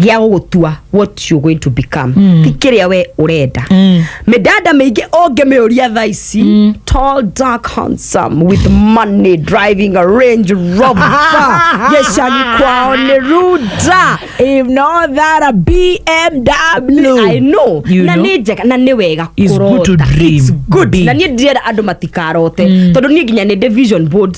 gĩa gũgũtua what you going to become ti kĩrĩa we ũrenda mĩdada mĩingĩ ũngĩmĩũria thaa ici tall dark handsome with money driving a range rover gĩcagi kwao nĩ ruda If not that a BMW. I know You na know? nĩ njega na nĩ wega It's good to kũrota. dream It's good. big. na niĩ ndirenda andũ matikarote tondũ niĩ nginya nĩ ndĩ vision boards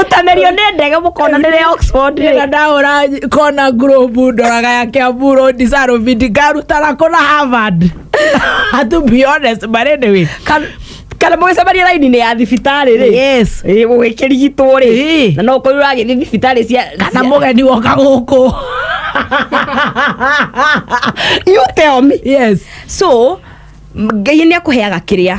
ũtamerio nĩ ndege mũkona nĩ rĩa oxford rĩ na ndahũra kona ngurubu ndoraga ya kiambu rondi sarobindi ngarutana kũna harvard to be honest but anyway Kan- kana mũgĩcemania raini-inĩ ya thibitarĩ rĩ yes Ĩ, gũgĩkĩrigitwo rĩ Ĩ. na no ũkorwo ũragĩthiĩ thibitarĩ cia kana cia- mũgeni woka gũkũ you tell me yes so ngai nĩ akũheaga kĩrĩa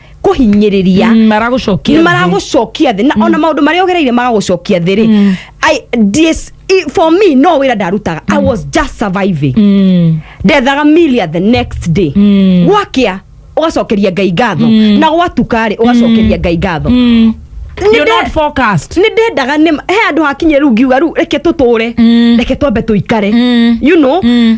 kũhinyĩrĩria Mm, maragũcokia nĩ thĩ. maragũcokia thĩ na ona maũndũ marĩa ũgereire magagũcokia thĩ rĩ I- this- i- for me no wĩra ndarutaga i was just surviving Mm. ndethaga milia the next day Mm. gwakĩa ũgacokeria ngai ngatho na gwatuka rĩ ũgacokeria ngai ngatho Mm. Nĩ You're nde- not focused. nä ndendaga nä he andå hakinyä rä u ngiuga rä u reke tå tå re Mm. reke twambe tå ikare Mm. you know Mm.